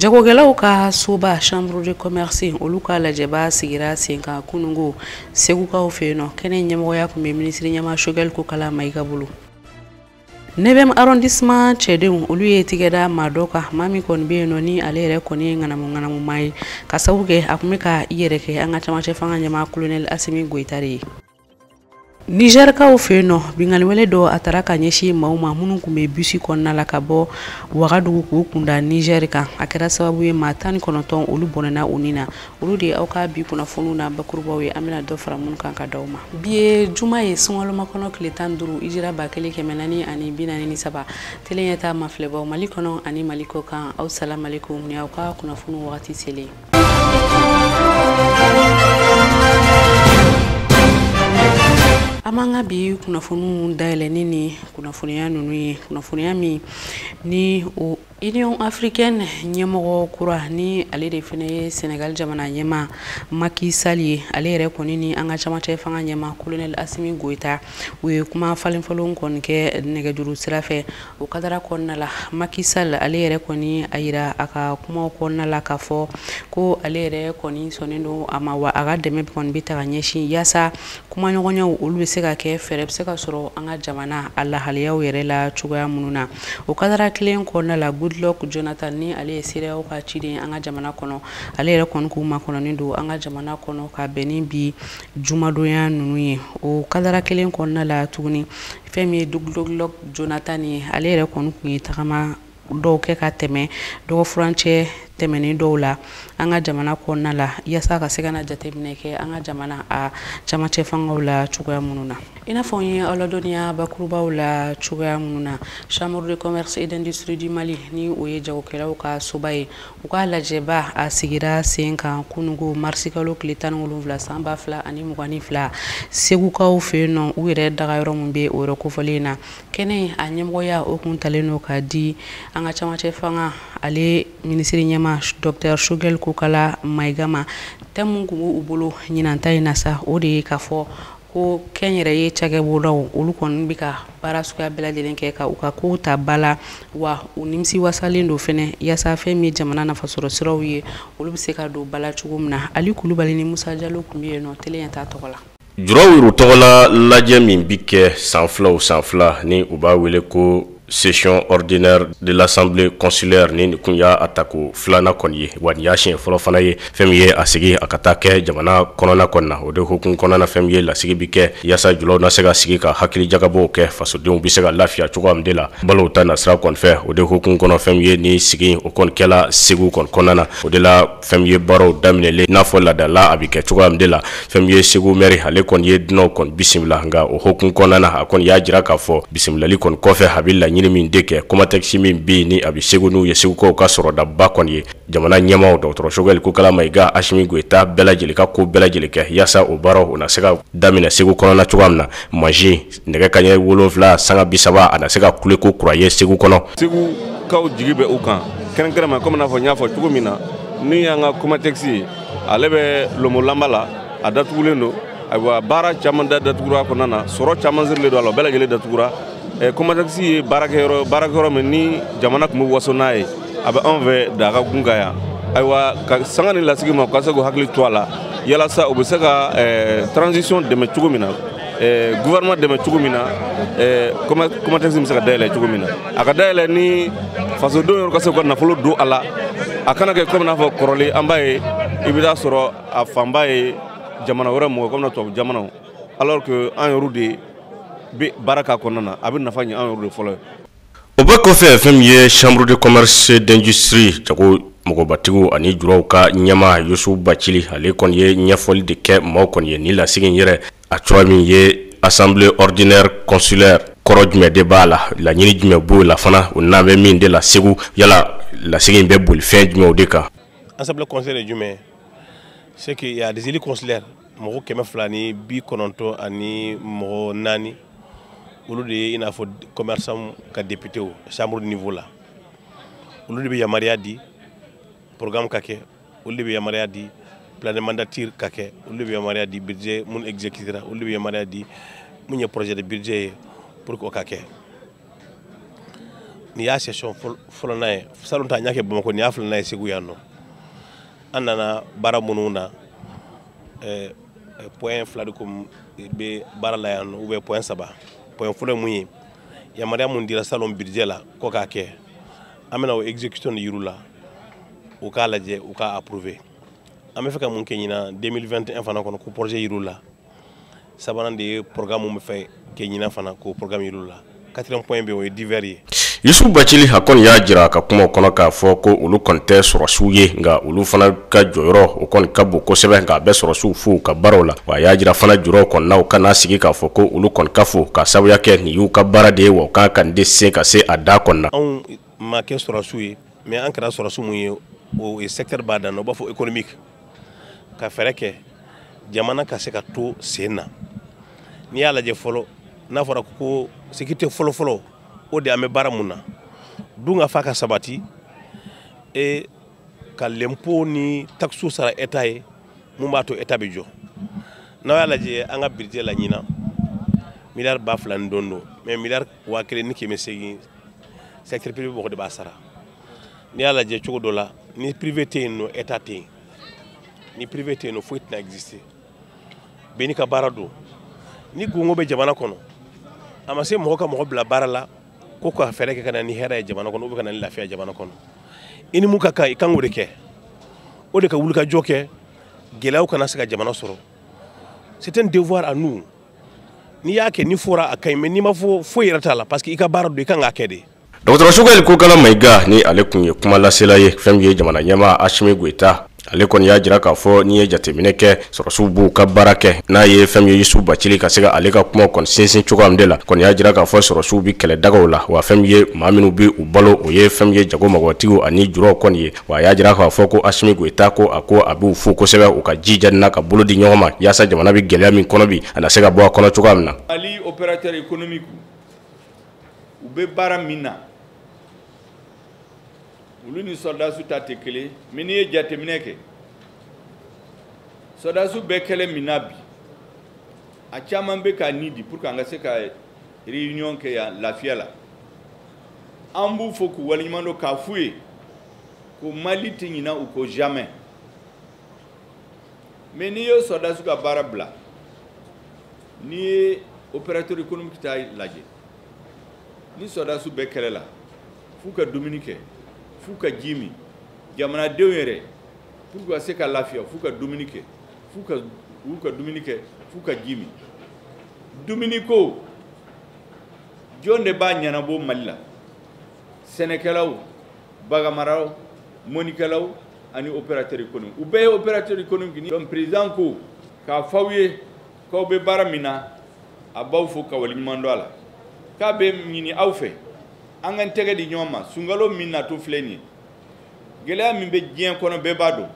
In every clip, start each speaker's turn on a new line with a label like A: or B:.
A: jagokɛlaw ka soba chambre de commerce olu ka lajɛba sigira sen kan kunungo segukaw fɛ yen nɔ kɛnɛ ɲɛmɔgɔya kun bɛ minisiri ɲɛma sogɛli kokala mayiga bolo neuvième arrondissement cɛdenw olu ye tigɛ da maa dɔ kan maa min kɔni bɛ yen nɔ ni ale yɛrɛ kɔni ye ŋanamuŋanamu maa ye ka sabu kɛ a kun bɛ ka i yɛrɛ kɛ an ka camacɛ fanga ɲɛma kolonɛli asimi goyita de ye nizɛrikaw fɛ yen nɔ binkanniwale dɔ a taara ka ɲɛsin maaw ma minnu kun bɛ bisi kɔnɔna la ka bɔ wagadugu k'u kun da nizɛri kan a kɛra sababu ye maa tan ni kɔnɔntɔn olu bɔnɛna u ni na olu de aw ka bi kunnafoniw na bakurubaw ye an bɛna dɔ fara minnu kan ka d'aw ma bi ye juma ye sunkalomakɔnɔ tile tan duuru ijira ba kelen kɛmɛ naani ani bi naani ni saba tele ɲɛtaa mafilɛbaw mali kɔnɔ ani mali kɔkan aw salamalekum ni aw ka kunnafoniw wagati selen an b'an ka bi kunnafoniw dayɛlɛni ni kunnafoniya ninnu ye kunnafoniya min ni o union africaine ɲɛmɔgɔ kura ni ale de fana ye senegal jamana ɲɛma maki sal ye ale yɛrɛ kɔni ni an ka camacɛ fanga ɲɛma kolonɛl asimi goyita u ye kuma falenfalen kɔni kɛ nɛgɛjuru sira fɛ O kadara kɔnɔna la maki sal ale yɛrɛ kɔni a yira a ka kuma kɔnɔna la k'a fɔ ko ale yɛrɛ kɔni sɔnnen don a ma wa a ka dɛmɛ kɔni bɛ taa ka ɲɛsin yaasa kumaɲɔgɔnyaw olu bɛ se ka kɛ fɛɛrɛ bɛ se ka sɔrɔ an ka jamana a lahalayaw yɛrɛ la cogoya minnu na o kadara kelen kɔnɔna la goodluck jonathan ni ale ye cedeao ka ciden an ka jamana kɔnɔ ale yɛrɛ kɔni ko makɔnɔnen don an ka jamana kɔnɔ ka bɛn ni bi jumadonya ninnu ye o kadara kelen kɔnɔna la tuguni fɛn min ye goodluck jonathan ye ale yɛrɛ kɔni kun ye tagama dɔw kɛ ka tɛmɛ dɔgɔfurancɛ tɛmɛnen dɔw la an ka jamana kɔnɔna la yaasa ka se ka na jateminɛ kɛ an ka jamana a camacɛ fangaw la cogoya minnu na i n'a fɔ n ye aw ladɔnniya bakurubaw la cogoya minnu na chambre de commerce et d'industrie du mali ni o ye jagokɛlaw ka soba ye U ka lajɛba a sigira sen kan kunungo marisikalo tile tan wolonwula san ba fila ani mugan ni fila segukaw fɛ yen nɔ u yɛrɛ dagayɔrɔ min bɛ o yɔrɔ kofɔlen na kɛnɛ a ɲɛmɔgɔya o kun talen don ka di an ka camacɛ fanga ale minisiri ɲɛma docteur sogɛli kokala mayiga ma thème min kun b'u bolo ɲinan ta in na sa o de ye k'a fɔ ko kɛnyɛrɛye cakɛ bolodaw olu kɔni bɛ ka baara suguya bɛɛ lajɛlen kɛ ka u ka kow ta ba la wa u nimisiwasalen don fɛnɛ yaasa fɛn min ye jamana nafasɔrɔ siraw ye olu bɛ se ka don ba la cogo min na ali kulubali ni musa jalo kun bɛ yen nɔ tele ɲɛtaa tɔgɔ la juraw yɛrɛ tɔgɔla
B: lajɛ min bɛ kɛ san fila o san fila ni u b'a wele ko Session ordinaire de l'assemblée consulaire ni nin kun y'a tako filanan kɔni ye wa nin y'a siɲɛ fɔlɔ fana ye fɛn min ye a sigi a ka taa kɛ jamana kɔnɔna kɔni na o de hukumu kɔnɔna fɛn min ye lasigi bi kɛ yaasa julaw na se ka sigi ka hakili jagabɔw kɛ fasodenw bɛ se ka lafiya cogoya min de la balow ta nasira kɔni fɛ o de hukumu kɔnɔ fɛn min ye nin sigi o kɔni kɛla Segu kɔni kɔnɔna na o de la fɛn min ye baaraw daminɛlen n'a fɔ ladala a bɛ kɛ cogoya min de la fɛn min ye segu mɛri ale kɔni ye dunanw kɔni bisimila nka o hukumu kɔnɔna na a kɔni y'a jira k'a fɔ bisimilali kɔni kɔfɛ a bɛ laɲini min de kɛ komatɛkisi min bɛ yen ni a bɛ segu n'o ye segukaw ka sɔrɔdaba kɔni ye jamana ɲɛmaaw dɔgɔtɔrɔ Sogɛli Kokala Mayiga Asimi Goyita bɛɛ lajɛlen ka ko bɛɛ lajɛlen kɛ yaasa o baaraw o na se ka daminɛ segu kɔnɔna cogoya min na ma nɛgɛ kanɲɛ wolonwula sanga bi saba a na se ka kule ko kura ye segu kɔnɔ segukaw
C: jigi bɛ u kan kɛrɛnkɛrɛnma komi n'a fɔ n y'a fɔ cogo min na ni y'an ka komatɛkisi ye ale bɛ lomolanba la a datugulen don ayiwa baara caman da datugura kɔnɔna na sɔrɔ caman sirilen don a la bɛɛ lajɛlen datugura komatɛkisi ye baarakɛyɔrɔ min ni jamana tun bɛ waso n'a ye a bɛ anw fɛ daga kun ka yan ayiwa ka sanga ni lasigi ma u ka se k'u hakili to a la yalasa u bɛ se ka transition dɛmɛ cogo min na eh, gouvernement dɛmɛ cogo min na eh, komatɛkisi bɛ se ka dayɛlɛ cogo min na a ka dayɛlɛ ni fasodenw yɛrɛ ka se ka nafolo don a la a kana kɛ komi n'a fɔ kɔrɔlen an b'a ye i bɛ taa sɔrɔ a fanba ye jamana wɛrɛ mɔgɔ komi na tubabu jamanaw alors que an yɛrɛw de bɛ baara k'a kɔnɔna na a bɛ nafa ɲɛ an yɛrɛw de fɔlɔ ye o bɛɛ
B: kɔfɛ fɛn min ye chambre de commerce d'industrie jago mɔgɔbatigiw ani juraw ka ɲɛmaa Yusufu Bacili ale kɔni ye ɲɛfɔli de kɛ maaw kɔni ye nin lasigi in yɛrɛ a cogoya min ye assemblée ordinaire consulaire kɔrɔ jumɛn de b'a la laɲini jumɛn b'o la fana o n'an bɛ min de la Segu yala lasigi in bɛ boli fɛn jumɛnw de kan assemblée consulaire ye
D: jumɛn ye c'est qu'il y a des élus consulaires mɔgɔ kɛmɛ fila ni bi kɔnɔntɔn ani mɔgɔ naani olu de ye i n'a fɔ commerçant ka députéw chambre de niveau la olu de bɛ yamaruya di programme ka kɛ olu de bɛ yamaruya di plan de mandature ka kɛ olu de bɛ yamaruya di budget mun exécutera olu de bɛ yamaruya di mun ye projet de budget ye pour que o ka kɛ nin y'a session filana ye salon ta an y'a kɛ bamakɔ nin y'a filana ye segu yan nɔ an nana baara minnu na eh, eh, point fila de kun bɛ baara la yan nɔ ou bien point saba point fɔlɔ ye mun ye yamaruya mun dira salon budget la ko k'a kɛ an bɛna o exécution yir'u la u k'a lajɛ u k'a approuver an bɛ fɛ ka mun kɛ ɲinan 2021 fana kɔnɔ k'o projet yir'u la sabanan de ye programme min fɛ kɛ ɲinan fana k'o programme yir'u la quatrième point bɛ o ye divers ye yusufu
B: bacili a kɔni y'a jira a ka kumaw kɔnɔ k'a fɔ ko olu kɔni tɛ sɔrɔsiw ye nka olu fana ka jɔyɔrɔ o kɔni ka bon kosɛbɛ nka a bɛ sɔrɔsiw fo u ka baaraw la wa a y'a jira fana julaw kɔni na u kana sigi k'a fɔ ko olu kɔni ka fo k'a sabuya kɛ nin y'u ka baara de ye wa u ka kan nin de se ka se a dan kɔni na anw ma kɛ
D: sɔrɔsiw ye mais an kɛra sɔrɔsiw mun ye o ye secteur ba dɔ n'u b'a fɔ économique ka fɛɛrɛ kɛ jamana ka se ka to sen na n'i y'a lajɛ fɔlɔ n'a fɔra ko sécurité fɔlɔfɔlɔ o de an bɛ baara mun na dunkafa ka sabati e ka lenpo ni takisiw sara état ye mun b'a to état bɛ jɔ n'aw y'a lajɛ an ka budget la ɲinan miliyari ba fila ni dɔɔni don mais miliyari waa kelen ni kɛmɛ seegin secteur privé mɔgɔ de b'a sara n'i y'a lajɛ cogo dɔ la ni privé tɛ yen nɔ état tɛ yen ni privé tɛ yen nɔ foyi tɛna exister bɛɛ n'i ka baara don ni kɔngɔ bɛ jamana kɔnɔ a ma se mɔgɔ ka mɔgɔ bila baara la ko ka fɛɛrɛ kɛ ka na ni hɛrɛ ye jamana kɔnɔ ou bien ka na ni lafiya jamana kɔnɔ i ni mun ka kan i kan k'o de kɛ o de ka wulikajɔ kɛ gɛlɛyaw kana se ka jamana sɔrɔ c'est un devoir à nous n'i y'a kɛ n'i fora a ka ɲi mais n'i ma fo foyi yɛrɛ t'a la parce que i ka baara don i kan k'a kɛ de dɔgɔtɔrɔ sogɛli
B: kokala mayiga ni ale tun ye kuma lasela ye fɛn min ye jamana ɲɛmaa asimi goyita ale kɔni y'a jira k'a fɔ n'i ye jateminɛ kɛ sɔrɔsiw b'u ka baara kɛ n'a ye fɛn min ye yusufu bacili ka se ka ale ka kuma kɔni sinsin cogoya min de la kɔni y'a jira k'a fɔ sɔrɔsiw bɛ kɛlɛ dagaw la wa fɛn min ye maa minnu bɛ u balo o ye fɛn min ye jago mɔgɔtigiw ani julaw kɔni ye wa a y'a jira k'a fɔ ko asimi goyita ko a ko a b'u fo kosɛbɛ u ka jija na ka bolo di ɲɔgɔn ma yaasa jamana bɛ gɛlɛya min kɔnɔ bi a na se ka bɔ a kɔnɔ cogoya min
E: na u bɛ baara min na olu ni sɔrɔdasiw ta tɛ kelen mais n'i ye jateminɛ kɛ sɔrɔdasiw bɛ kɛlɛ min na bi a caman bɛ k'a ni di pour que an ka se ka réunion kɛ yan lafiya la an b'u fo k'u waleɲuman dɔn k'a f'u ye ko mali tɛ ɲina u ko jamais mais n'i ye sɔrɔdasiw ka baara bila N'i ye opérateur économique ta lajɛ ni sɔrɔdasiw bɛ kɛlɛ la f'u ka dumuni kɛ f'u ka ji min jamanadenw yɛrɛ pour que ka se ka lafiya f'u ka dumuni kɛ f'u ka u ka dumuni kɛ f'u ka ji min dumuni ko jɔn de b'a ɲɛnabɔ Mali la sɛnɛkɛlaw baganmaraw mɔnikɛlaw ani opérateur économique u bɛɛ ye opérateur économique ni donc président ko k'a f'aw ye k'aw bɛ baara min na a b'aw fo ka waleɲuman dɔn a la k'a bɛ ɲini aw fɛ an k'an tɛgɛ di ɲɔgɔn ma sunkalo min natɔ filɛ nin ye gɛlɛya min bɛ diɲɛ kɔnɔ bɛɛ b'a dɔn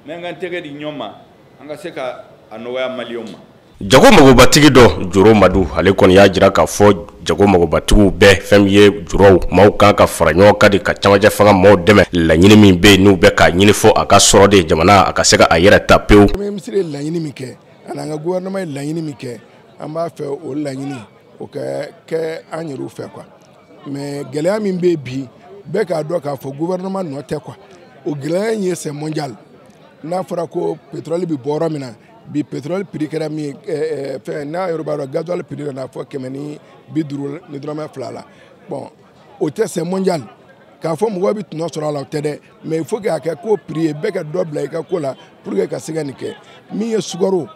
E: mais an k'an tɛgɛ di ɲɔgɔn ma an ka se ka a nɔgɔya maliyɛnw ma jago
B: magobatigi dɔ joro madu ale kɔni y'a jira k'a fɔ jago magobatigiw bɛɛ fɛn ye juraw maaw kan ka fara ɲɔgɔn kan de ka camancɛ fanga maaw dɛmɛ laɲini min bɛ yen n'u bɛ k'a ɲini fɔ a ka sɔrɔ de jamana a ka se ka a yɛrɛ ta pewu
F: ani an ka gouvernement ye laɲini min kɛ an b'a fɛ o laɲini o ka kɛ an yɛrɛw fɛ quoi mais gɛlɛya min bɛ bi bɛɛ k'a dɔn k'a fɔ gouvernement nɔ tɛ quoi o gɛlɛya in ye c'est mondial n'a fɔra ko pétrole bɛ bɔ yɔrɔ min na bi pétrole prix kɛra min ye ɛɛ fɛn n'a yɛrɛ b'a dɔn gasoil prix nana fɔ kɛmɛ ni bi duuru ni dɔrɔmɛ fila la bon o tɛ c'est mondial k'a fɔ mɔgɔw bɛ tɔnɔ sɔrɔ a la o tɛ dɛ mais il faut que a kɛ compris ye bɛɛ ka dɔ bila i ka ko la pour que ka se ka nin kɛ min ye sukaro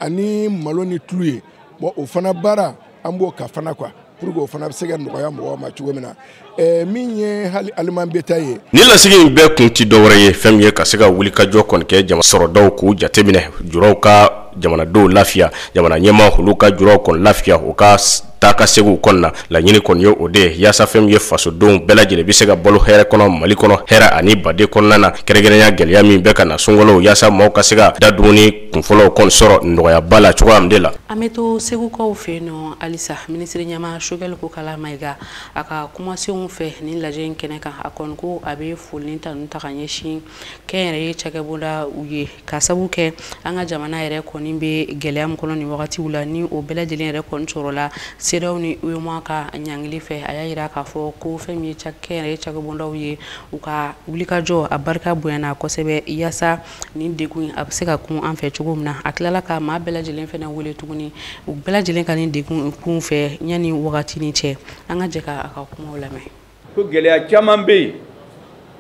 F: ani malo ni tulu ye bon o fana baara an b'o kan fana quoi pour que o fana bɛ se ka nɔgɔya mɔgɔw ma cogo min na eh, min ye hali aliment bétail ye. nin lasigi in bɛɛ
B: kun ti dɔwɛrɛ ye fɛn min ye ka se ka wulikajɔ kɔni kɛ jama sɔrɔdaw k'u jateminɛ juraw ka jamanadenw lafiya jamana ɲɛmaa olu ka juraw kɔni lafiya u ka taa ka segin kɔnɔna na laɲini kɔni ye o de yaasa fɛn ye fasodenw bɛɛ lajɛlen bɛ se ka balo hɛrɛ kɔnɔ mali kɔnɔ hɛrɛ ani baden kɔnɔna na kɛrɛnkɛrɛnya gɛlɛya min bɛ ka na sunkalo yaasa maaw ka se ka da dumuni kunfɔlɔw kɔni sɔrɔ nɔgɔyaba la cogoya min de la an bɛ to
A: segukaw fɛ yen nɔ halisa minisiri ɲɛmaa sogɛli kokala mayiga a ka kumasenw fɛ nin lajɛ in kɛnɛ kan a kɔni ko a bɛ foli ni tanu ta ka ɲɛsin kɛnyɛrɛye cakɛbondaw ye ka sabu kɛ an ka jamana yɛrɛ kɔni bɛ gɛlɛya min kɔnɔ nin wagatiw la ni o bɛɛ lajɛlen yɛrɛ kɔni sɔrɔla cedeao ni uemoa ka ɲangili fɛ a y'a jira k'a fɔ ko fɛn min ye kɛnyɛrɛye cakɛbondaw ye u ka wulikajɔ a barika bonyana kosɛbɛ yaasa nin degun a bɛ se ka kun an fɛ cogo min na a tilala ka maa bɛɛ lajɛlen fana wele tuguni u bɛɛ lajɛlen ka nin degun kun fɛ yanni wagati ni cɛ an ka jɛ ka a ka kuma lamɛn ko gɛlɛya
E: caman bɛ yen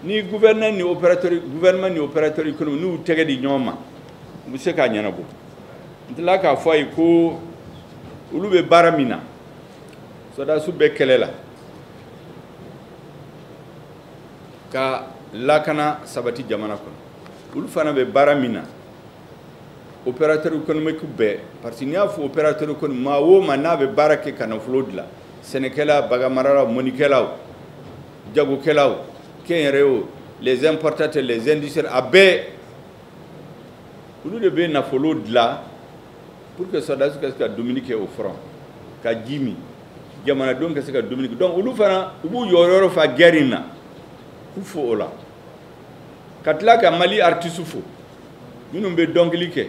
E: ni gouverneur ni opérateur gouvernement ni opérateur économique n'u tɛgɛ di ɲɔgɔn ma u bɛ se k'a ɲɛnabɔ n tilala k'a fɔ a ye ko olu bɛ baara min na sɔrɔdasiw bɛ kɛlɛ la ka lakana sabati jamana kɔnɔ olu fana bɛ baara min na opérateur économique bɛɛ parce que n'i y'a fɔ opérateur économique maa o maa n'a bɛ baara kɛ ka nafolo dilan sɛnɛkɛla bagamaralaw mɔnnikɛlaw jagokɛlaw kɛnyɛrɛyew les importateurs les industriels a bɛɛ olu de bɛ nafolo dilan pour que sɔrɔdasiw ka se ka dumuni kɛ au front ka ji min jamanadenw ka se ka dumuni kɛ donc olu fana u b'u jɔyɔrɔ fa guerre in na k'u fo o la ka tila ka mali artiste fo minnu bɛ dɔnkili kɛ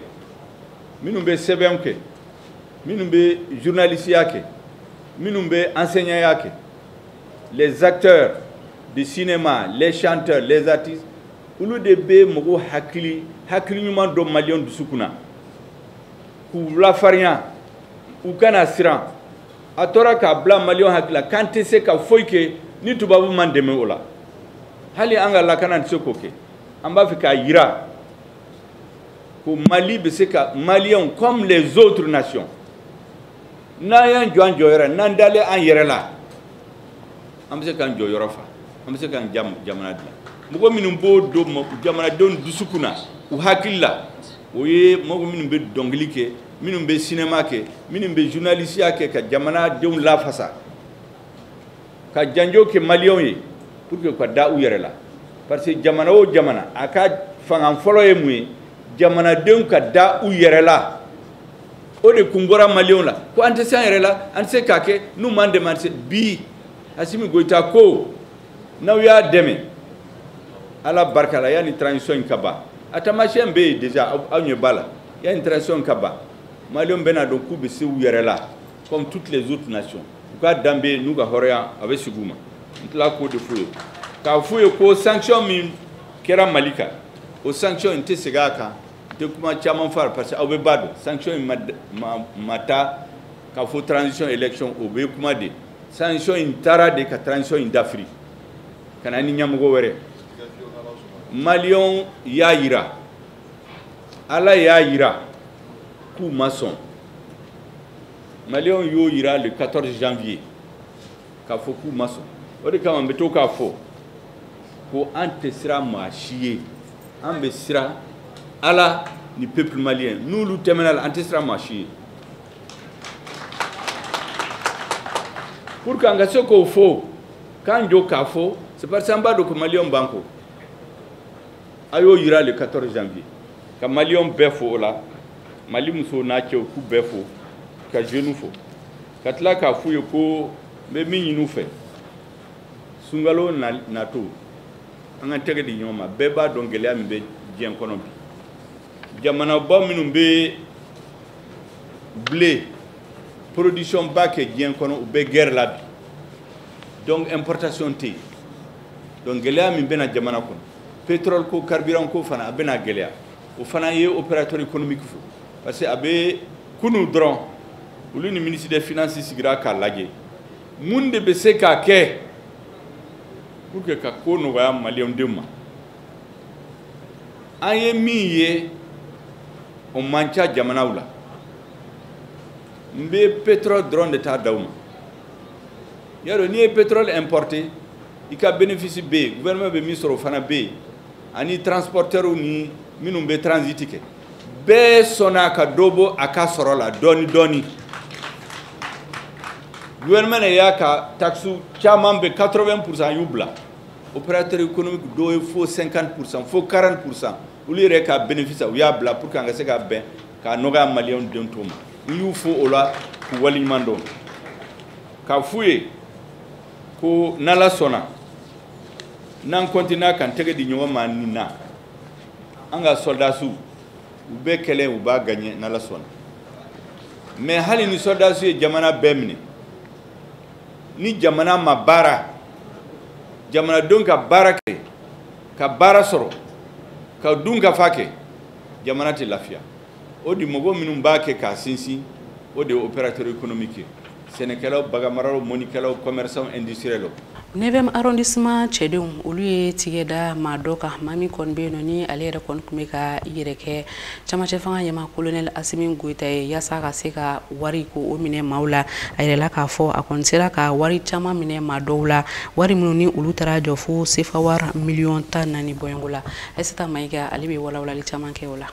E: minnu bɛ sɛbɛnw kɛ minnu bɛ journalisiya kɛ minnu bɛ enseignantya kɛ les acteurs de cinéma les chanteurs les artistes olu de bɛ mɔgɔw hakili hakili ɲuman don maliyɛnw dusukun na k'u lafarinya u kana siran a tora k'a bila maliyɛnw hakili la k'an tɛ se ka foyi kɛ ni tubabu m'an dɛmɛ o la hali an ka lakana tɛ se k'o kɛ an b'a fɛ k'a yira ko mali bɛ se ka maliyɛnw comme les autres nations n'an y'an jɔ an jɔyɔrɔ n'an dalen an yɛrɛ la an bɛ se k'an jɔyɔrɔ fa an bɛ se k'an jamana dilan mɔgɔ minnu b'o don jamanadenw dusukun na u hakili la o ye mɔgɔ minnu bɛ dɔnkili kɛ minnu bɛ cinéma kɛ minnu bɛ journalisiya kɛ ka jamanadenw lafasa ka janjo kɛ maliyɛnw ye pour que u ka da u yɛrɛ la parce que jamana o jamana a ka fanga fɔlɔ ye mun ye jamanadenw ka da u yɛrɛ la o de kun bɔra maliyɛnw la ko an tɛ se an yɛrɛ la an tɛ se k'a kɛ n'u m'an dɛmɛ an tɛ se bi asimi goyita ko n'aw y'a dɛmɛ ala barika la yanni transition in ka ban a taamasiyɛn bɛ yen déjà aw ɲɛ b'a la yanni transition in ka ban maliyɛnw bɛn'a dɔn k'u bɛ se u yɛrɛ la comme toutes les autres nations u ka danbe n'u ka hɔrɔnya a bɛ segin u ma n tila k'o de f'u ye k'a f'u ye ko sanction min kɛra mali kan o sanction n tɛ segin a kan n tɛ kuma caman f'a la parce que aw bɛɛ b'a dɔn sanction in ma ta k'a fɔ transition élection o bɛ kuma de sanction in tara de ka transition in dafiri ka na ni ɲɛmɔgɔ wɛrɛ maliyɛnw y'a yira ala y'a yira k'u ma sɔn maliyɛnw y'o yira le 14 janvier k'a fɔ k'u ma sɔn o de kama n bɛ to k'a fɔ ko an tɛ siran maa si ye an bɛ siran ala ni peuple malien n'olu tɛmɛna la an tɛ siran maa si ye pour que an ka se k'o fɔ k'an jɔ k'a fɔ c'est parce que an b'a dɔn ko maliyɛnw b'an kɔ a y'o yira le 14 janvier ka maliyɛnw bɛɛ fo o la mali musow n'a cɛw k'u bɛɛ fo ka jeunes fo ka tila k'a f'u ye ko n bɛ min ɲin'u fɛ sunkalo natɔ an ka tɛgɛ di ɲɔgɔn ma bɛɛ b'a dɔn gɛlɛya min bɛ diɲɛ kɔnɔ bi jamanaba minnu bɛ blé production ba kɛ diɲɛ kɔnɔ u bɛ guerre la bi donc importation tɛ yen donc gɛlɛya min bɛna jamana kɔnɔ pétrole ko carburant ko fana a bɛna gɛlɛya o fana ye opérateur économique fo parce que a bɛ kunu dɔrɔn olu ni ministre des finances sigira k'a lajɛ mun de bɛ se ka kɛ pour que ka ko nɔgɔya maliyɛn denw ma an ye min ye o man ca jamanaw la n bɛ pétrole dɔrɔn de ta d'aw ma y'a dɔn n'i ye pétrole importé i ka bénéfice bɛ yen gouvernement bɛ min sɔrɔ o fana bɛ yen ani transporteurs ni minnu bɛ transit kɛ bɛɛ sɔnna ka dɔ bɔ a ka sɔrɔ la dɔɔni dɔɔni gouvernement de y'a ka taxe caman bɛ 80 pourcent y'u bila opérateur économique dɔw ye fo 50 pourcent fo 40 pourcent olu yɛrɛ ka bénéfice u y'a bila pour que an ka se ka bɛn k'a nɔgɔya maliyɛn den tɔw ma n y'u fo o la k'u waleɲuman dɔn k'a f'u ye ko n'ala sɔnna n'an continue k'an tɛgɛ di ɲɔgɔn ma nin na an ka sɔrɔdasiw u bɛ kɛlɛ u b'a gaɲɛ n'ala sɔnna mais hali ni sɔrɔdasiw ye jamana bɛɛ minɛ ni jamana ma baara jamanadenw ka baara kɛ ka baara sɔrɔ ka dunkafa kɛ jamana tɛ lafiya o de mɔgɔ minnu b'a kɛ k'a sinsin o de ye opérateur économique ye sɛnɛkɛlaw baganmaralaw mɔnikɛlaw commerçants industriels
A: neuvième arrondissement cɛdenw olu ye tigɛ da maa dɔ kan maa min kɔni bɛ yen nɔ ni ale yɛrɛ kɔni tun bɛ k'a yɛrɛ kɛ camancɛ fanga ɲɛmaa kolonɛli asimi goyita ye yaasa ka se ka wari ko o minɛ maaw la a yirala k'a fɔ a kɔni sera ka wari caman minɛ maa dɔw la wari minnu ni olu taara jɔ fo sefawari miliyɔn tan ni naani bɔɲɔgɔnko la ayisata mayiga ale bɛ walawalali caman kɛ o la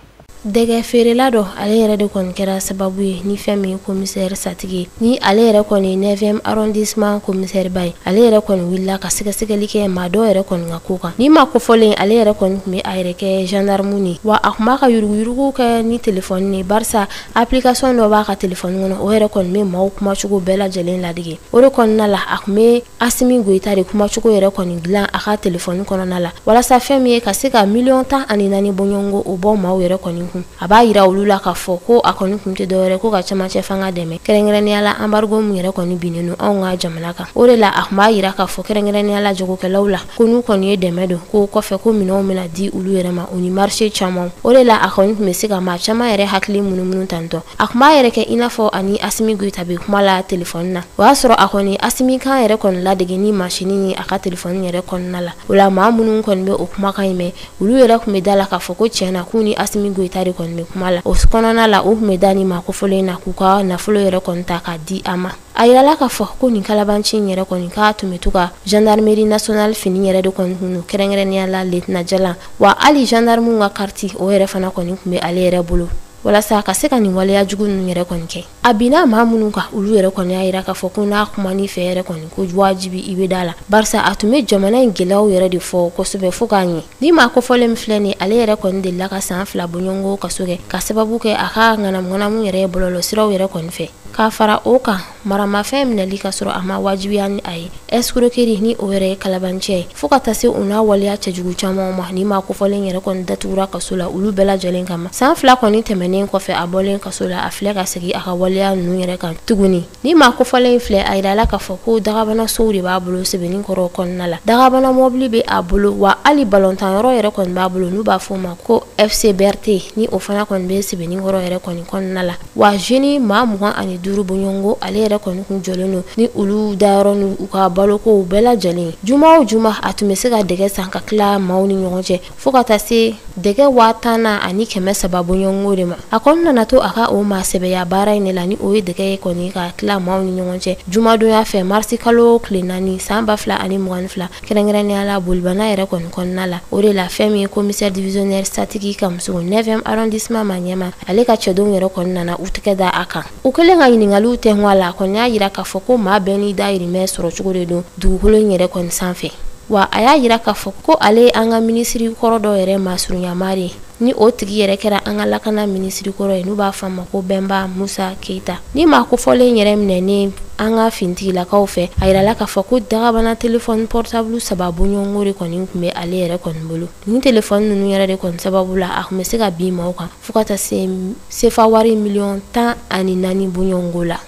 A: dɛgɛ
G: feerela dɔ ale yɛrɛ de kɔni kɛra sababu ye ni fɛn min ye komisɛri satigi ye ni ale yɛrɛ kɔni ye neuvième arrondissement komisɛriba ye ale yɛrɛ kɔni wulila ka sɛgɛsɛgɛli kɛ maa dɔ yɛrɛ kɔni ka ko kan ni maa kofɔlen ale yɛrɛ kɔni tun bɛ a yɛrɛ kɛ gendarme ni wa a tun b'a ka yuruguyurugu kɛ ni telefɔni ne barisa application dɔ b'a ka telefɔni kɔnɔ o yɛrɛ kɔni bɛ maaw kumacogo bɛɛ lajɛlen ladege o de kɔnɔna la a tun bɛ asimi goyita de kumacogo yɛrɛ kɔni dilan a ka telefɔni kɔnɔna la walasa fɛn min ye ka se ka miliyɔn tan ani naani bɔɲɔgɔnko o bɔ maaw yɛrɛ kɔni kun a b'a yira olu la k'a fɔ ko a kɔni kun tɛ dɔwɛrɛ ko ka camancɛ fanga dɛmɛ kɛrɛnkɛrɛnnenya la anbarigo min yɛrɛ kɔni binnen don anw ka jamana kan o de la a kun b'a yira k'a fɔ kɛrɛnkɛrɛnnenya la jagokɛlaw la ko n'u kɔni ye dɛmɛ don ko kɔfɛ ko minɛnw bɛna di olu yɛrɛ ma u ni marché caman o de la a kɔni tun bɛ se ka maa caman yɛrɛ hakili munumunu tantɔ a tun b'a yɛrɛ kɛ i n'a fɔ ani asimi goyita bɛ kuma la telefɔni na o y'a sɔrɔ a kɔni asimi kan yɛrɛ kɔni ladege ni masini ye a ka telefɔni yɛrɛ kɔnɔna la o la maa minnu kɔni bɛ o kumakan in mɛn olu yɛrɛ tun bɛ da la k'a fɔ ko tiɲɛ na k'u ni asimi goyita de kɔni bɛ kuma la o kɔnɔna la u tun bɛ da ni maa kofɔlen na k'u ka nafolo yɛrɛ kɔni ta k'a di a ma a yirala k'a fɔ ko nin kalabanci in yɛrɛ kɔni k'a tun bɛ to ka gendarmerie nationale fini yɛrɛ de kɔni tun don kɛrɛnkɛrɛnnenya la letina jalan wa hali gendarmew ka kariti o yɛrɛ fana kɔni tun bɛ ale yɛrɛ bolo walasa a ka se ka nin waleya jugu ninnu yɛrɛ kɔni kɛ a binna maa minnu kan olu yɛrɛ kɔni y'a yira k'a fɔ ko n'a kuman'i fɛ yɛrɛ kɔni ko wajibi i bɛ da la barisa a tun bɛ jamana in gɛlɛyaw yɛrɛ de fɔ kosɛbɛ fo k'a ɲɛ ni maa kofɔlen min filɛ nin ale yɛrɛ kɔni delila ka san fila bɔɲɔgɔnko kaso kɛ ka sababu kɛ a ka ŋanamuŋanamu yɛrɛ ye bɔlɔlɔsiraw yɛrɛ kɔni fɛ k'a fara o kan maramafɛn minɛli ka sɔrɔ a ma wajibiya ni a ye escroquerie ni o yɛrɛ ye kalabanciya ye fo ka taa se u n'a waleya cɛjugu camanw ma ni maa kofɔlen yɛrɛ kɔni datugura kaso la olu bɛɛ lajɛlen kama san fila kɔni tɛmɛnen kɔfɛ a bɔlen kaso la a filɛ ka segin a ka waleya ninnu yɛrɛ kan tuguni ni maa kofɔlen filɛ a yirala k'a fɔ ko dagabana sow de b'a bolo sebeninkɔrɔ kɔnɔna la dagabana mɔbili bɛ a bolo wa hali balɔntanyɔrɔ yɛrɛ kɔni b'a bolo n'u b'a fɔ ma ko fcbrt ni o fana kɔni bɛ sebeninkɔrɔ yɛrɛ kɔni kɔnɔna la wa jeune maa mugan ani duuru bɔɲɔgɔnko ale yɛrɛ kɔni tun jɔlen don ni olu dayɔrɔ ni u ka balokow bɛɛ lajɛlen juma o juma a tun bɛ se ka dɛgɛ san k'a tila maaw ni ɲɔgɔn cɛ fo ka taa se dɛgɛ waa tan na ani kɛmɛ saba bɔɲɔgɔnko de ma a kɔni nana to a ka o maa sɛbɛya baara in de la ni o ye dɛgɛ ye kɔni k'a tila maaw ni ɲɔgɔn cɛ jumadonya fɛ marisi kalo tile naani san ba fila ani mugan ni fila kɛrɛnkɛrɛnnenya la bolibana yɛrɛ kɔni kɔnɔna la o de la fɛn min ye commissaire divisionnaire santigi kamisoko 9e arrondissement ma ɲɛma ale ka cɛdenw yɛrɛ kɔni nana u tɛgɛ da a kan u kɛlen ka ɲiningaliw tɛnku a la a kɔni y'a yira k'a fɔ ko maa bɛɛ n'i dayirimɛ sɔrɔ cogo de don dugukolo in yɛrɛ kɔni sanfɛ wa a y'a yira k'a fɔ ko ale ye an ka minisiri kɔrɔ dɔ yɛrɛ masurunya maa de ye ni o tigi yɛrɛ kɛra an ka lakana minisiri kɔrɔ ye n'u b'a fɔ a ma ko bɛnba musa keita ni maa kofɔlen yɛrɛ minɛnen an ka fintigilakaw fɛ a yirala k'a fɔ ko dagabana telefɔni pɔrɔtabulu saba bɔɲɔgɔnko de kɔni tun bɛ ale yɛrɛ kɔni bolo nin telefɔni ninnu yɛrɛ de kɔni sababu la a tun bɛ se ka bin maaw kan fo ka taa se sefa wari miliyɔn tan ani naani bɔɲɔgɔnko
A: la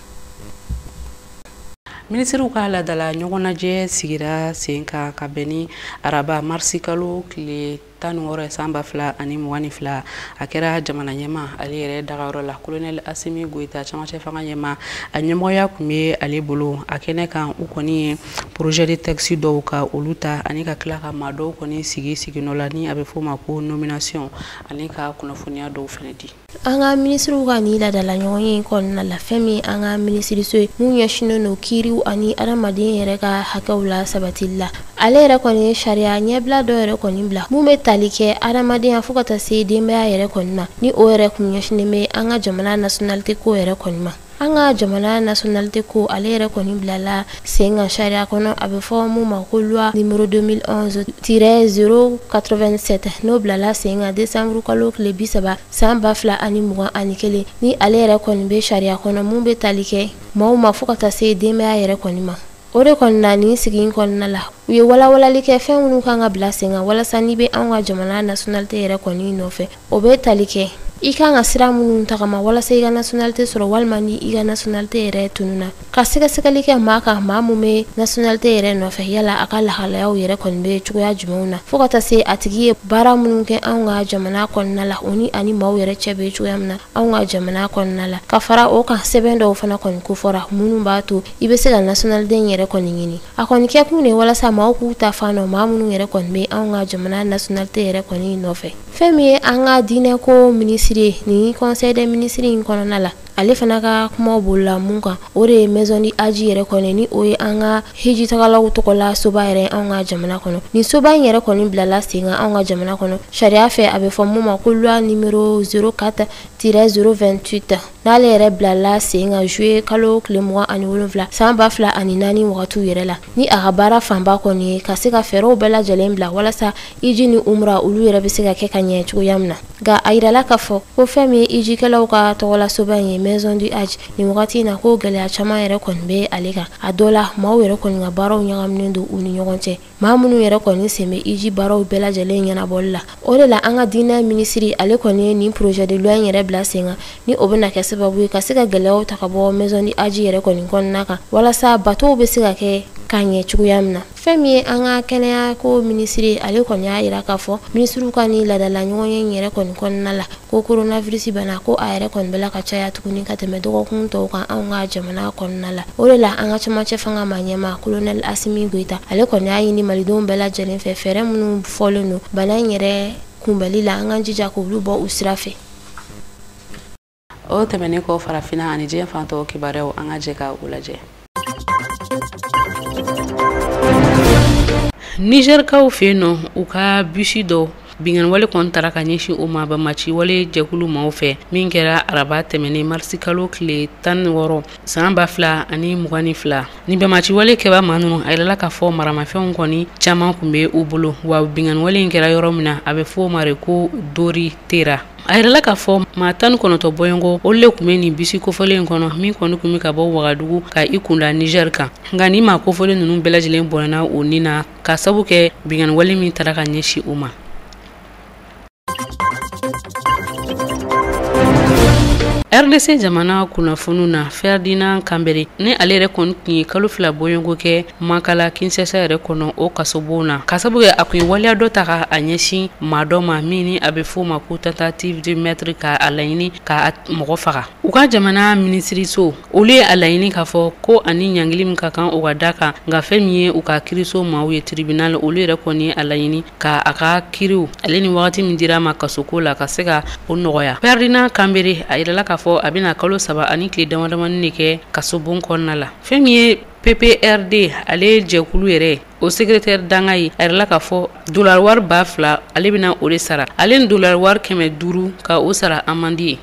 A: minisiriw ka ladala ɲɔgɔnnajɛ sigira sen kan ka bɛn ni araba marisi kalo tile tan ni wɔɔrɔ san ba fila ani mugan ni fila a kɛra jamana ɲɛma ale yɛrɛ dagayɔrɔ la kolonɛli asimi goyita camancɛ fanga ɲɛma a ɲɛmɔgɔya tun bɛ ale bolo a kɛnɛ kan u kɔni ye projet de texte dɔw ka olu ta ani ka tila ka maa dɔw kɔni sigi siginɔ la ni a bɛ f'o ma ko nomination ani ka kunnafoniya dɔw fana di an ka
G: minisiriw ka nin ladala ɲɔgɔnye kɔnɔna la fɛn min an ka minisiriso ye mun ɲɛsinnen don kiiriw ani adamaden yɛrɛ ka hakɛw lasabatili la ale yɛrɛ kɔni ye sariya ɲɛbila dɔ yɛrɛ kɔni bila mun bɛ tali kɛ adamadenya fo ka taa se denbaya yɛrɛ kɔni ma ni o yɛrɛ kun ɲɛsinnen bɛ an ka jamana nationalité ko yɛrɛ kɔni ma An ka jamana nationalité ko ale yɛrɛ kɔni bilala sen kan sariya kɔnɔ a bɛ fɔ mun ma ko loi numéro 2011-087 n'o bilala sen kan décembre kalo tile 30 san 2021 ni ale yɛrɛ kɔni bɛ sariya kɔnɔ mun bɛ tali kɛ maaw ma fo ka taa se denbaya yɛrɛ kɔni ma. o de kɔni na nin sigi in kɔnɔna la u ye walawalali kɛ fɛn minnu kan ka bila sen kan walasa n'i bɛ anw ka jamana nationalité yɛrɛ kɔni nɔfɛ o bɛ tali kɛ i kan ka sira minnu tagama walasa i ka nationalité sɔrɔ walima ni i ka nationalité yɛrɛ tununa ka sɛgɛsɛgɛli kɛ maa kan maa mun bɛ nationalité yɛrɛ nɔfɛ yala a ka lahalayaw yɛrɛ kɔni bɛ cogoya jumɛnw na fo ka taa se a tigi ye baara minnu kɛ anw ka jamana kɔnɔna la o ni ani maaw yɛrɛ cɛ bɛ cogoya min na anw ka jamana kɔnɔna la ka fara o kan sɛbɛn dɔw fana kɔni kofɔra minnu b'a to i bɛ se ka nationalité yɛrɛ kɔni ɲini a kɔni kɛ kun de walasa maaw k'u ta fan dɔn maa minnu yɛrɛ kɔni bɛ anw ka jamana nationalité yɛrɛ kɔni nɔfɛ fɛn min ye an ka diinɛko minisiri ye nin conseil des ministres in kɔnɔna la ale fana ka kuma bolola mun kan o de ye maison du Hadji yɛrɛ kɔni ni o ye an ka hijitagalaw tɔgɔlasoba yɛrɛ anw ka jamana kɔnɔ nin soba in yɛrɛ kɔni bilala sen kan anw ka jamana kɔnɔ sariya fɛ a bɛ fɔ mun ma ko loi numéro 04-028 n'ale yɛrɛ bilala sen kan juye kalo tile mugan ani wolonwula san ba fila ani naani wagatiw yɛrɛ la ni a ka baara fanba kɔni ye ka se ka fɛɛrɛw bɛɛ lajɛlen bila walasa hiji ni umra olu yɛrɛ bɛ se ka kɛ ka ɲɛ cogoya min na nka a yirala k'a fɔ ko fɛn min ye hijikɛlaw ka tɔgɔlasoba in ye maison du Hadji nin wagati in na ko gɛlɛya caman yɛrɛ kɔni bɛ ale kan a dɔ la maaw yɛrɛ kɔni ka baaraw ɲagaminen don u ni ɲɔgɔn cɛ maa minnu yɛrɛ kɔni sen bɛ hiji baaraw bɛɛ lajɛlen ɲɛnabɔli la o de la an ka diinɛ minisiri ale kɔni ye nin projet de loi in yɛrɛ bila sen kan ni o bɛna kɛ sababu ye ka se ka gɛlɛyaw ta ka bɔ maison du Hadji yɛrɛ kɔni kɔnɔna kan walasa batow bɛ se ka kɛ ka ɲɛ cogoya min na fɛn min ye an ka kɛnɛya ko minisiri ale kɔni y'a yira k'a fɔ minisiriw ka ni ladala ɲɔgɔnye in yɛrɛ kɔni kɔnɔna la ko coronavirus bana ko a yɛrɛ kɔni bɛla ka caya tuguni ka tɛmɛ dɔgɔkun tɔw kan anw ka jamana kɔnɔna la o de la an ka cɛmancɛ fanga maa ɲɛmaa kolonɛl asimi goyita ale kɔni y'a ɲini malidenw bɛɛ lajɛlen fɛ fɛɛrɛ minnu fɔlen don bana in yɛrɛ kunbɛli la an ka jija k'olu bɔ u sira fɛ o
A: tɛmɛnen kɔ farafinna ani diɲɛ fan tɔw kibaruyaw an ka jɛ ka u lajɛ nizɛrikaw fɛ yen nɔ u ka bisi dɔ binkanniwale kɔni tara ka ɲɛsin o ma banbaaci wale jɛkulu maaw fɛ min kɛra araba tɛmɛnen marisikalo tile tan ni wɔɔrɔ san ba fila ani mugan ni fila ni banbaaciwale kɛbaa maa ninnu a yirala k'a fɔ maramafɛnw kɔni caman kun bɛ u bolo wa binkanniwale in kɛra yɔrɔ min na a bɛ fɔ o ma de ko dori tera a yirala k'a fɔ maa tan ni kɔnɔtɔ bɔɲɔgɔn olu le kun bɛ nin bisi kofɔlen in kɔnɔ min kɔni kun bɛ ka bɔ wagadugu ka i kunda niger kan nka nin maa kofɔlen ninnu bɛɛ lajɛlen bɔnɛna u ni na ka sabu kɛ binkanniwale min tara ka ɲɛsin u ma rdc jamana kunnafoniw na ferdinand kambere ni ale yɛrɛ kɔni tun ye kalo fila bɔɲɔgɔn kɛ Makala kinshasa yɛrɛ kɔnɔ o kasobon na ka sabu kɛ a kun ye waleya dɔ ta ka a ɲɛsin maa dɔ ma min ni a bɛ fɔ o ma ko tentative de meurtre ka a laɲini ka mɔgɔ faga u ka jamana minisiriso olu ye a laɲini k'a fɔ ko ani ɲangili min ka kan o ka da kan nka fɛn min ye u ka kiiriso maaw ye tribunal olu yɛrɛ kɔni ye a laɲini ka a ka kiiriw ale ni wagati min dira a ma kasoko la ka se ka o nɔgɔya ferdinand kambere a yirala k'a fɔ a bɛna kalo saba ani tile damadamani de kɛ kasobon kɔnɔna la fɛn min ye pprd ale jɛkulu yɛrɛ o secrétaire dankan ye a yirala k'a fɔ dolari wari ba fila ale bɛna o de sara ale ni dolari wari kɛmɛ duuru ka o sara amandi ye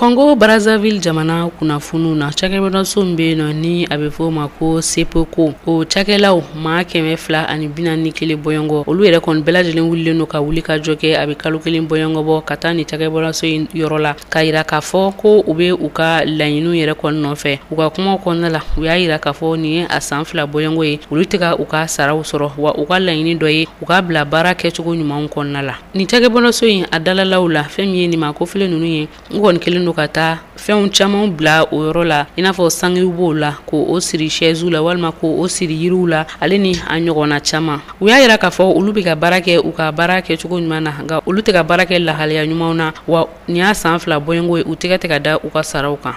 A: congo brazzaville jamana kunnafoniw na cakɛbɔnaso min bɛ yen nɔ ni a bɛ fɔ o ma ko sopeco o cakɛlaw maa kɛmɛ fila ani bi naani ni kelen bɔɲɔgɔn olu yɛrɛ kɔni bɛɛ lajɛlen wulilen don ka wuli ka jɔ kɛ a bɛ kalo kelen bɔɲɔgɔn bɔ ka taa ni cakɛbɔlaso in yɔrɔ la k'a yira k'a fɔ ko u bɛ u ka laɲiniw yɛrɛ kɔni nɔfɛ u ka kumaw kɔnɔna la u y'a yira k'a fɔ nin ye a san fila bɔɲɔgɔn ye olu tɛ ka u ka saraw sɔrɔ wa u ka laɲini dɔ ye u ka bila baara kɛcogo ɲumanw kɔnɔna la ni cakɛbɔlaso in a dalalaw la fɛn min ye nin maa kofɔlen ninnu ye n kɔni kɛlen don ka taa fɛnw camanw bila o yɔrɔ la i n'a fɔ sangew b'o la k' o siri shɛɛziw la walima k' o siri yiriw la ale ni a ɲɔgɔnna caman u y'a yira k'a fɔ olu bɛ ka baara kɛ u ka baara kɛ cogo ɲuman na nka olu tɛ ka baara kɛ lahalaya ɲumanw na wa nin y'a san fila bɔɲɔgɔn ye u tɛgɛ tɛ ka da u ka saraw kan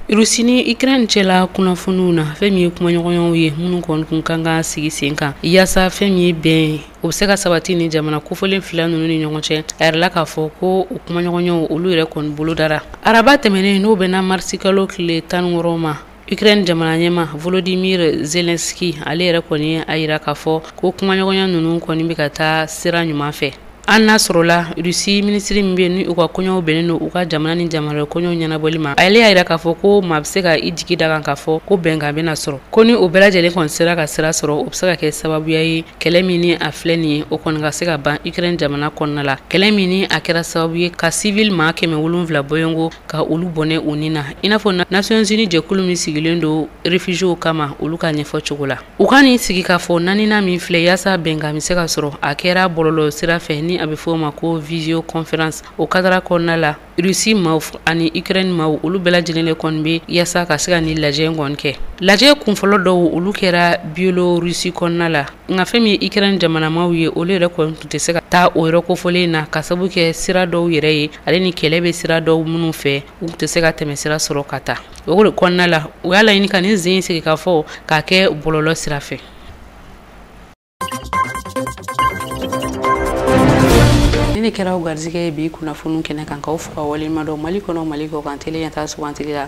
A: Rusi ni Ukraine cɛla kunnafoniw na fɛn min ye kumaɲɔgɔnyaw ye minnu kɔni kun kan ka sigi sen kan yaasa fɛn min ye bɛn o bɛ se ka sabati ni jamana kofɔlen fila ninnu ni ɲɔgɔn cɛ a yirala k'a fɔ ko o kumaɲɔgɔnyaw olu yɛrɛ kɔni bolodara araba tɛmɛnen n'o bɛnna marisikalo tile tan ni wɔɔrɔ ma Ukraine jamana ɲɛmaa Volodymyr Zelensky ale yɛrɛ kɔni a yira k'a fɔ ko kumaɲɔgɔnya ninnu kɔni bɛ ka taa sira ɲuman fɛ an n'a sɔrɔla Russie minisiri min bɛ yen ni u ka koɲɛw bɛnnen don u ka jamana ni jamana koɲɛw ɲɛnabɔli ma ale y'a yira k'a fɔ ko maa bɛ se ka i jigi da kan k'a fɔ ko bɛnkan bɛna sɔrɔ ko ni o bɛɛ lajɛlen kɔni sera ka sira sɔrɔ o bɛ se ka kɛ sababuya ye kɛlɛ min ni a filɛ nin ye o kɔni ka se ka ban Ukraine jamana kɔnɔna la kɛlɛ min ni a kɛra sababu ye ka civil maa kɛmɛ wolonwula bɔɲɔgɔn ka olu bɔnɛ u ni na i n'a fɔ Nations Unies jɛkulu min sigilen don réfugiés kama olu ka ɲɛfɔ cogo la u ka nin sigikafɔ naaninan min filɛ yaasa bɛnkan bɛ se ka sɔrɔ a kɛra bɔlɔlɔ sira fɛ ni a bɛ fɔ o ma ko visio conférence o kadara kɔnɔna la Russie maaw ani Ukraine maaw olu bɛɛ lajɛlen de kɔni bɛ yaasa ka se ka nin lajɛ kɔni kɛ lajɛ kunfɔlɔ dɔw olu kɛra Biélorussie kɔnɔna la nka fɛn min ye Ukraine jamana maaw ye olu yɛrɛ kɔni tun tɛ se ka taa o yɔrɔ kofɔlen na k'a sabu kɛ sira dɔw yɛrɛ ye ale ni kɛlɛ bɛ sira dɔw minnu fɛ u tɛ se ka tɛmɛ sira sɔrɔ ka taa o kɔnɔna la u y'a laɲini ka nin sen sigikafɔ k'a kɛ bɔlɔlɔ sira fɛ nin de kɛra aw garisɛgɛ ye bi kunnafoni kɛnɛ kan k'aw fo k'aw waleɲumandɔn Mali kɔnɔ Mali kɔkan t yan taa sugantigi la